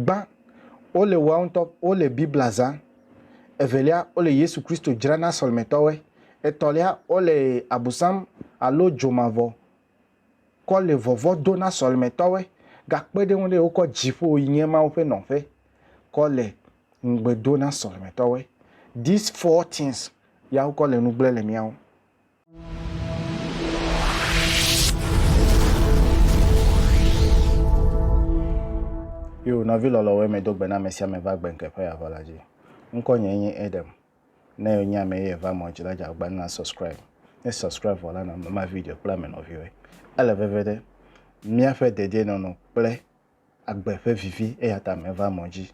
Gbã, wole woawo ŋutɔ wole Biblia zã. Evelia, wole Yesu Kristo dzra na sɔlemetɔwoe. Etɔ̃lia, wole Abusam alo dzomavɔ kɔ le vɔvɔ do na sɔlemetɔwoe. Gakpe ɖe eŋu ɖe, wokɔ dziƒo yi nye Mawu ƒe nɔƒe kɔ le ŋugbe do na sɔlemetɔwoe. These four things ya wokɔ le nu gblẽ le mía ŋu. Yo, nɔvi lɔlɔwo eme do gbe na ame sia ame va gbe ŋkeƒe ya vɔ la dzi. Ŋkɔ nye nye Edem. Ne yo nye ame ye va mɔ dzi la dza gba na subscribe. Ne subscribe vɔ la na ma video kple ame nɔviwe. Ele veve ɖe. Miaƒe dedienɔnɔ kple agbe ƒe vivi eya ta meva mɔ dzi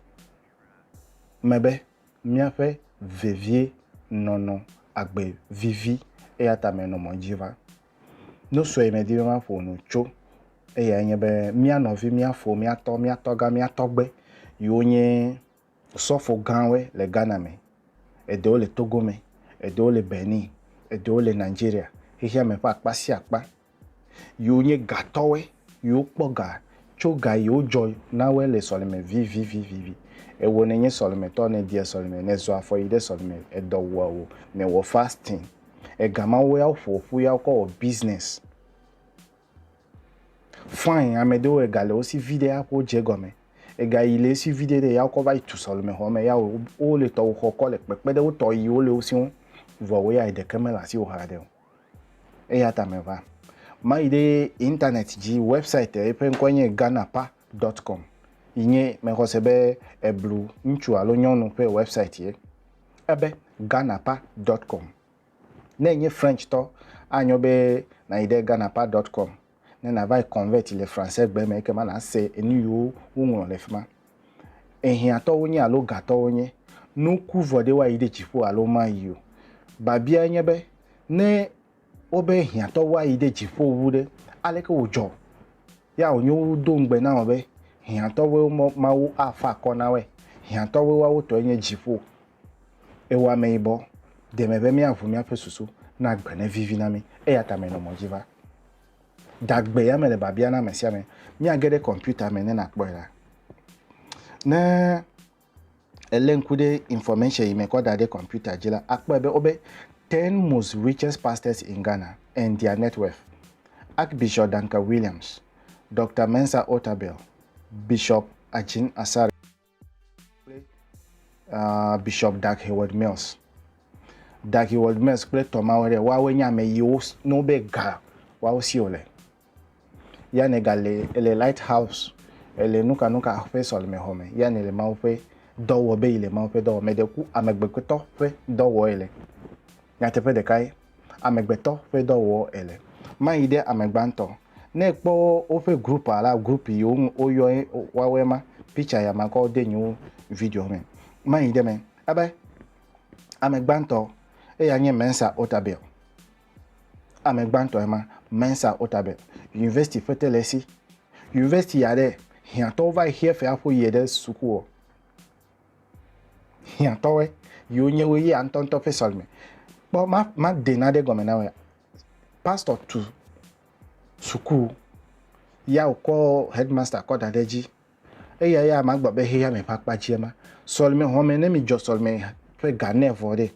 me be míaƒe vevie nɔnɔ agbe vivi eya ta menɔ mɔ dzi va. Nu sue medi be maƒo nu tso eyae nye be mía nɔvi, mía fo, mía tɔ, mía tɔgã, mía tɔgbe yiwo nye Osɔfo gãwoe le Ghana me, eɖewo le Togo me, eɖewo le Benin, eɖewo le Nigeria, xexea me ƒe akpa sia akpa, yiwo nye gatɔwoe, yiwo kpɔ ga tso ga yi wodzɔ na woe le sɔleme vivivivivi. Ewɔ nènye sɔlemetɔ, nèdia sɔleme, nèzɔ afɔ yi ɖe sɔleme, edɔ wua wò, nèwɔ fasting. Ega mawoe woƒo ƒu ya wokɔ wɔ business. Fine, amɛɖewo ega le wosi viɖe ya ƒo dze gɔme. Ega yi le esi viɖe ɖe ya wokɔ va yi tu sɔleme xɔme ya wo wo le tɔwo xɔ kɔ le kpekpe ɖe wotɔ yi wo le wo siwo vɔ wo ya eɖeke mele asi wo haɖe o. Eya ta me va ma yi ɖe internet dzi website yi ƒe ŋkɔe nye Ghanapa dot com yi nye me xɔse be eblu ŋutsu alo nyɔnu ƒe website ye. Ebe Ghanapa dot com. Ne ènye French-tɔ, anyo be nàyi ɖe ghanapart.com ne nàva yi Convert le Fransegbe me ekema nàse enu yiwo woŋlɔ le fi ma. Ehiãtɔ wonye alo gatɔ wonye, nuku vɔ ɖe woayi ɖe dziƒo alo womayi o. Babiae nye be, Ne wobe hiãtɔ woayi ɖe dziƒo wu ɖe, aleke wòdzɔ? Ya wònyo wodo ŋugbe na wò be, Hiãtɔwoe wo Mawu afa akɔ na woe. Hiãtɔwoe woawotɔe nye dziƒo. Ewɔ ameyibɔ deme be míaʋu míaƒe susu na agbe nevivi na mí, eya ta menɔ mɔ dzi va. Dagbe ya mele biabia na ame sia ame. Míage ɖe kɔmpiuta me ne nàkpɔe ɖa. Ne èlé ŋku ɖe information yi mekɔ da ɖe kɔmpiuta dzi la, àkpɔe be wobe Ten Most Richest Pastors in Ghana and Their Net Worth, Archbishop Duncan Williams, Doctor Mensa Otabil, Bishop Ajin Asare, Uh, Bishop Dag Heward Mills. Dag Heward Mills kple tɔmawo ɖe woawoe nye ame yiwo ne wobe ga woawo si wòle. Ya ne gale ele Lighthouse ele nukanuka ƒe sɔlemexɔ me ya ne le Mawu ƒe dɔ wɔ be yi le Mawu ƒe dɔ wɔ me ɖe ku amegbekpetɔ ƒe dɔ wɔ ele. Nyateƒe ɖekae. amegbetɔ ƒe dɔ wɔ ele. Mayi ɖe ame gbãtɔ. Ne ekpɔ woƒe group alo group yi woyɔ woawɔe ma, picture ya makɔ de nye video me. Mayi ɖe me ebe ame gbãtɔ eya nye Mensa Otabil. Ame gbãtɔ ema Mensa Otabil. University ƒe te le esi. University ya ɖe hiãtɔwo va yi xia fea ƒo yie ɖe suku o. hiãtɔwɔe yiwo nye wo ya ŋutɔŋutɔ ƒe sɔleme. Kpɔ ma made naɖe gɔme na wòa? Pastor tu suku ya wòkɔ headmaster kɔ da ɖe edzi. Eya ya magblɔ be xexeame ƒe akpa dzie ma. Sɔleme xɔme ne midzɔ sɔleme ƒe ga ne vɔ ɖe.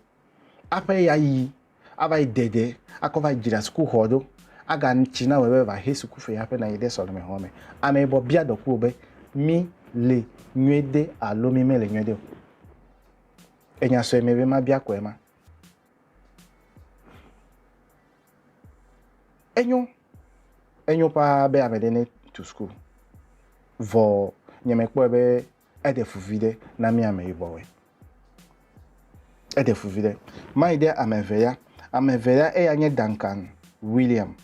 Aƒe ya yi ava yi de ge akɔ va dzra sukuxɔ ɖo. Aga tsi na wòe be va he sukufe hafi nanyi ɖe sɔleme xɔ me. Ame yibɔ bia dɔku wò be, Mi le nyuie de alo mi mele nyuie de o? Enya sɔe me be ma bia kɔe ma. Enyo, enyo paa be ame ɖe ne tu suku. Vɔ nye me kpɔe be Eɖe fu viɖe na mí ameyibɔwoe. Eɖe fu viɖe. Mayi ɖe ame eve ya. Ame eve ya eya nye Duncan William,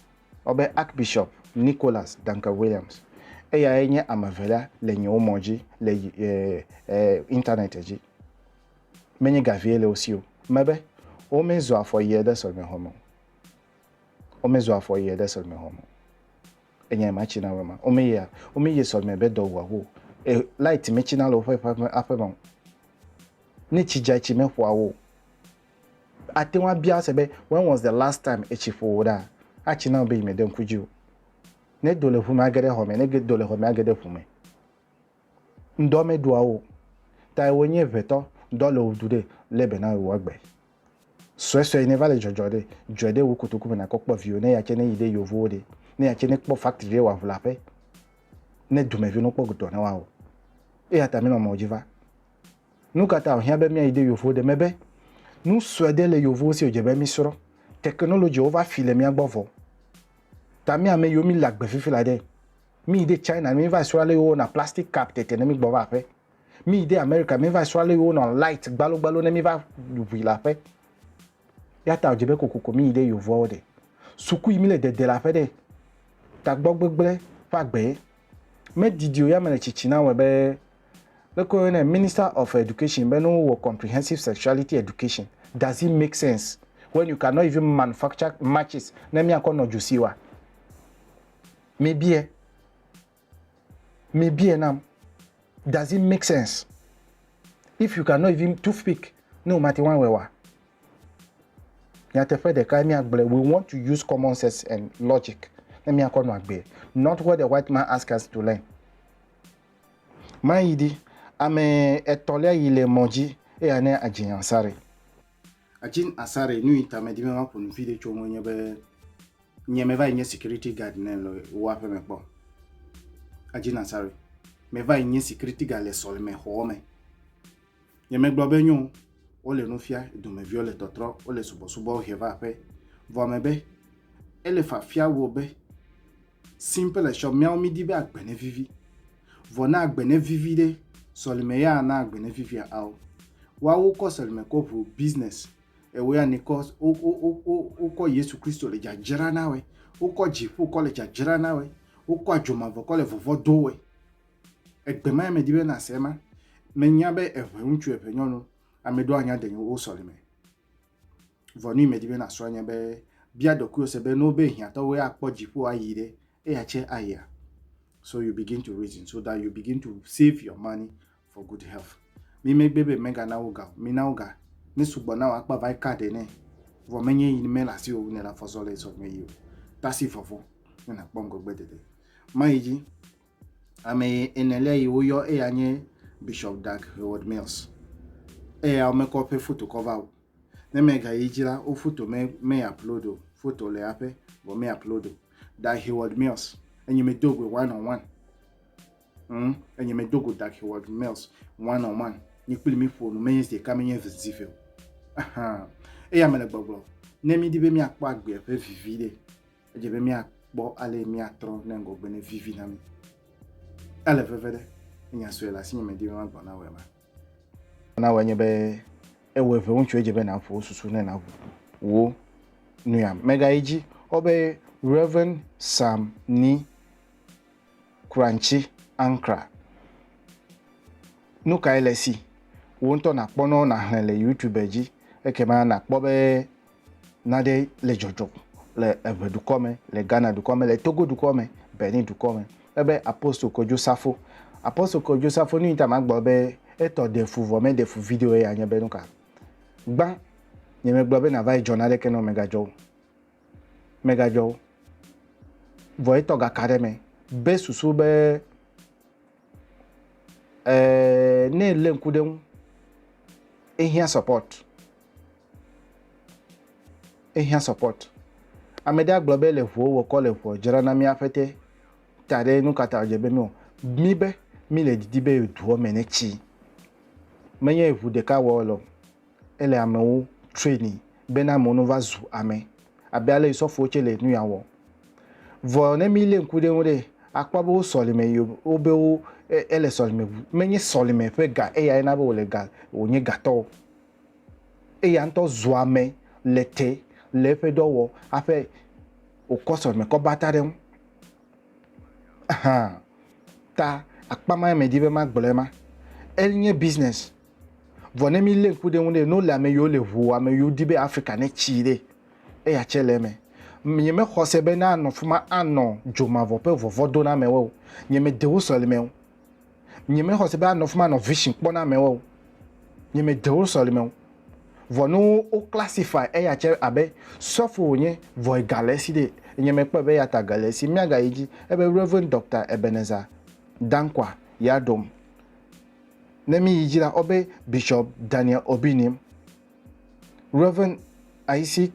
wobe Archbishop Nicholas Duncan Williams. Eyae nye ame evelia le nye wo mɔ dzi le e, e, internet dzi. Menye gavie le wo si o. Mebe womezɔ afɔ yie ɖe sɔlemexɔme o. Womezɔ afɔ yie ɖe sɔlemexɔme o. Enya ema tsina wema. Ome yea, ome ye sɔlime be dɔ wua wo. E light me tsina le woƒe ƒe aƒe me. Ne tsi dza etsi me ƒoa wo. Ate ŋu abia se be when was the last time etsi ƒo wo ɖa? Atsina be yi me de ŋku dzi o. Ne do le ŋu me age ɖe xɔ me, ne do le xɔ me age ɖe ŋu me. Ŋdɔ me ɖua wo. Ta wò nye ʋetɔ, dɔ le wò du ɖe, le be na wò agbe. Suesue yi ne va le dzɔdzɔ ɖe, dzɔe ɖe wò kotoku me nakɔ kpɔ viwò ne eya tse ne yi ɖe yevowo ɖe, ne eya tse ne kpɔ factory ɖe wòaʋu le aƒe ne dumeviwo ne wokpɔ dɔ ne woawɔ. Eya ta minɔ mɔ̃ dzi va. Nu ka ta wòhiã be míayi ɖe yevowo ɖe? Mebe nu sue ɖe le yevowo si wòdze be mísrɔ̃. Technologywo va fi le mía gbɔ vɔ. Ta mí ame yiwo míle agbe fifi la ɖe, míyi ɖe China ne míva srɔ̃ ale yi wowɔna plastic cup tete ne mígbɔ va aƒe. Míyi de Amerika, míva srɔ̃ ale wonɔ light gbalogbalo ne míva ʋui le aƒe. Ya ta wòdze be kokoko míyi ɖe yovoawo ɖe. Suku yi míle dede le aƒe ɖe. Tagbɔ gbegblẽ ƒe agbe. Medidi o ya mele tsitsi na wɔe be leke woyɔnɛ Minister of Education be ne wowɔ comprehensive sexuality education does it make sense when you cannot even manufacture matches ne míakɔ nɔ dzo si wa? Mebie. Mi bie nam. Does it make sense? If you cannot even toothpick, ne womate ŋu awɔe wa. Nyateƒe ɖeka ye míagblɔe. We want to use common sense and logic ne míakɔ nɔ agbee. Not what the white man ask us to learn. Mayi ɖi. Ame etɔ̃lia yi le mɔ dzi. Eya ne Ajin Ansari. Ajin Ansari, nu yi ta medi be maƒo nu viɖe tso eŋue nye be, Nye me va yi nye security guard ne le wo aƒe me kpɔ. Aji Nasari. Me va yi nye security guard le sɔleme xɔɔ me. Nye me gblɔ be nyo, wo le nu fia, domeviwo le tɔtrɔ, wo le subɔsubɔ he va aƒe. Vɔ me be, ele fafia wo be, simple le shop, miawo mi di be agbe ne vivi. Vɔ na agbe ne vivi de, sɔleme ya na agbe ne vivia ao. Wa wo kɔ sɔleme kɔ ʋu business Ewe ya ni kɔ wo wo wo wokɔ Yesu Kristo le dzadzra na we. Wokɔ dziƒo kɔ le dzadzra na we. Wokɔ adzomavɔ kɔ le vɔvɔ do we. Egbe ma ya me di be na se ma. Me nya be eʋe ŋutsu eʋe nyɔnu ame ɖewo anya de wo sɔlime. Vɔ nui me di be na srɔ̃ anya be bia ɖokui wo se be no be hiãtɔ wo ya kpɔ dziƒo ayi ɖe eya tse aya. So you begin to reason so that you begin to save your money for good health mi me gbe be mega na wo ga o mi na wo ga ne sugbɔ na wo akpa vai ka de ne vɔ me nye yi me la si o ne la fɔzɔ le sɔ me yi o tasi vɔvɔ ne na kpɔ ŋgɔgbe dede ma yi dzi ame ene lɛ yi wo yɔ eya nye bishop dag howard mills eya wo mekɔ ƒe foto kɔ va o ne me ga yi dzi la wo foto me me upload o foto le aƒe vɔ me upload o dag howard mills enyi me do gbe one on one Hm, enye me dogo dak wa mails one on one. Ni kpli mi fo no menye zde kame nye vzi fe. Aha. Eya me le gbogbo. Ne mi di be mi akpo agbe fe vivi de. Eje be mi akpo ale mi atro ne ngo gbe ne vivi na mi. Ele veve de. Nya so ela sinye me di be ma gbo na we ma. Na we nye be ewe ve unchu eje be na fo susu ne na wo. Nuya mega iji. Obe Reverend Sam ni Kranchi ankra. Nu kae le esi? Wò ŋutɔ nàkpɔ nɔ nàxlẽ le Youtube dzi ekema nàkpɔ be nane le dzɔdzɔm le eve dukɔ me, le Ghana dukɔ me, le Togo dukɔ me, Benin dukɔ me. Ebe Apostle Kojo Safo. Apostle Kojo Safo, nu yi ta magblɔ be etɔ ɖe fu vɔ meɖe fu video eya nye be nuka? Gbã, nyemegblɔ be nàva yi dzɔ naneke ne womegadzɔ o. megadzɔ o. Vɔ etɔ gaka ɖe me be susu be eh, ne ele ŋku ɖe ŋu, ehiã support. Ehiã support. Ame ɖe agblɔ be le ʋuwo wɔkɔ le ʋuɔ dzra na mía ƒete ta ɖe nu kata wòdze be míwɔ. Mí be míle didi be duɔ me ne tsi. Menye ʋu ɖeka wɔ lɔ. Ele amewo traini bena amewo no va zu ame abe ale yi sɔfowo tse le nuya wɔ. Vɔ ne mi le ŋku ɖe ŋu ɖe, akpɔ be wo sɔlime yi wo be wo ele sɔlime ŋu. Me nye sɔlime ƒe ga eya ye na be wo le ga wo nye gatɔ o. Eya ŋutɔ zu ame le te le eƒe dɔ wɔ aƒe wo kɔ sɔlime kɔ bata ɖe ŋu. Ahan ta akpa ma me di be ma gblɔe ma. Enye business Vɔ ne mí lé ŋku ɖe eŋu ɖe, no le ame yiwo le ŋu, ame yiwo di be Afrika ne tsi ɖe, eya tsɛ le eme. Nye me xɔ se be ne anɔ fima anɔ dzo mavɔ ƒe vɔvɔdoname wɔ o. Nye me de wo sɔlime o. Nye me xɔ se be anɔ fima anɔ vision kpɔ na ame wɔ o. Nye me de wo sɔlime o. Vɔ ne wo wo classify eya tsɛ abe sɔfo wo nye vɔ ega le esi ɖe, nye me kpɔe be eya ta ga le esi. Mía ga yi dzi ebe Rev. Doctor Ebenezer Dankwa Yadom Ne mi yi dzi la, ɔbe Bishop Daniel Obi nim, Rev. Isaac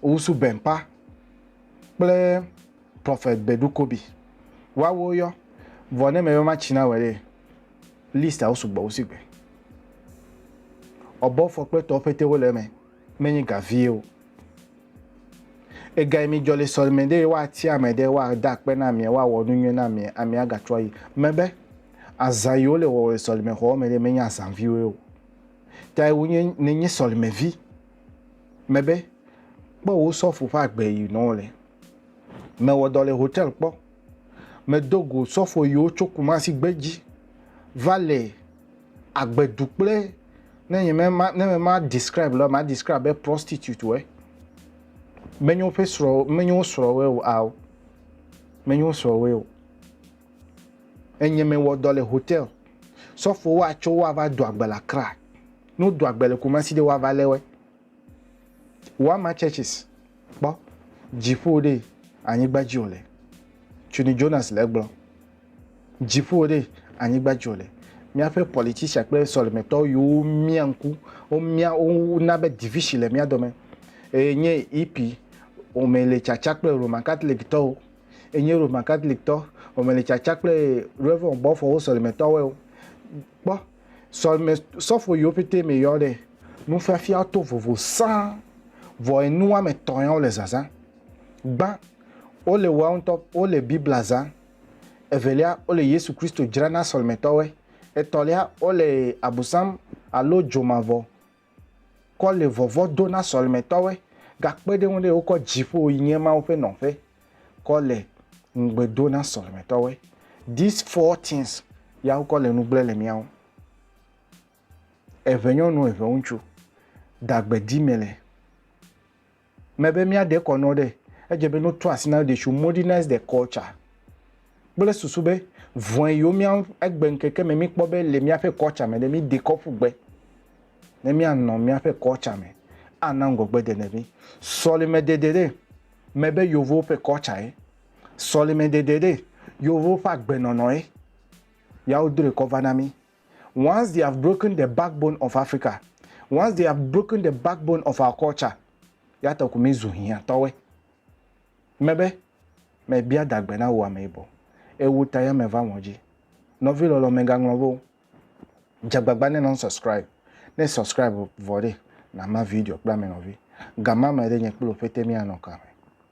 Owusu Bempah kple Prophet Bedu Kobi. Woawo yɔ, vɔ ne mebe matsi na wɔ ɖe, list a wo sugbɔ wo si gbe. Ɔbɔ fɔkpetɔwo pete wo le eme, menye ga vie o. Egae mi dzɔ le sɔleme ɖe woa tia ame ɖe woa da akpe na amea, woa wɔ nu nyuie na amea, amea ga trɔ yi. Mebe. Azã yiwo le wɔwɔ le sɔlimexɔwo me ɖe, menye azã viwoe o. Tae wonye ne nye sɔlimevi mebe, kpɔ wò sɔfo ƒe agbe yi nɔ le. Mewɔ dɔ le hotel kpɔ. Medo go sɔfo yiwo tso Kumasi gbe dzi va le agbe du kple ne nye me ma ne me ma describe le ma describe be prostitute woe. Menye woƒe srɔ̃ menye wo srɔ̃woe o ao. Menye wo srɔ̃woe o. Enye me wɔ dɔ le hotel. Sɔfo wo a tsɔ wo a va do agbe le Accra. Ne wo do agbe le Kumasi ɖe wo a va le woe. Wama churches kpɔ. Dziƒo ɖe anyigba dzi wo le. Cuni Jonas le egblɔ. Dziƒo ɖe anyigba dzi wo le. Miaƒe politician kple sɔleme tɔwo yi wo mia ŋku. Wo mia wo na be division le mia dɔme. Eye nye EP wome le tsatsa kple Roman Catholic tɔwo. Enye Roman Katoliktɔ gɔmeletsatsa kple Rev. Gbɔfɔwo sɔlemetɔwoe wo. Kpɔ, sɔleme sɔfo yiwo ƒete me yɔ ɖe. Nufiafia to vovo sãa, vɔ enu woame tɔ̃ yawo le zazã. Gbã, wole woawo ŋutɔ wole Biblia zã. Evelia, wole Yesu Kristo dzra na sɔlemetɔwoe. Etɔ̃lia, wole Abusam alo dzomavɔ kɔ le vɔvɔ̃ do na sɔlemetɔwoe gakpe ɖe eŋu ɖe wokɔ dziƒo yi nye Mawu ƒe nɔƒe kɔ le ŋugbe do na sɔlemetɔwoe. These four things ya wokɔ le nu gblẽ le mía ŋu. Eʋenyɔnu, eʋeŋutsu, dagbedime le. Mebe míade kɔ nɔ ɖe, edze be no to asi na they should modernize the culture kple susu be vɔe yewo mía ŋu egbe ŋkeke me míkpɔ be le míaƒe culture me ɖe míde kɔ ƒu gbe ne míanɔ míaƒe culture me ana ŋgɔgbe dede mí. Sɔleme dede ɖe, mebe yevuwo ƒe culture ye. Sɔleme dede ɖe, yevuwo ƒe agbenɔnɔ ye. Ya wodrɔe kɔ va na mí. Once they have broken the backbone of Africa, once they have broken the backbone of our culture, ya ta ko mi zu hiã tɔwɛ. Me be, me bia dagbe na wo ame yibɔ. Ewo ta ya me va ŋɔ dzi. Nɔvi lɔlɔ me ga ŋlɔ vo. Dze gbagba ne non subscribe. Ne subscribe vɔ ɖe, na ma video kple ame nɔvi. Ga ma me ɖe nye kple wo pete mi a nɔ ka me.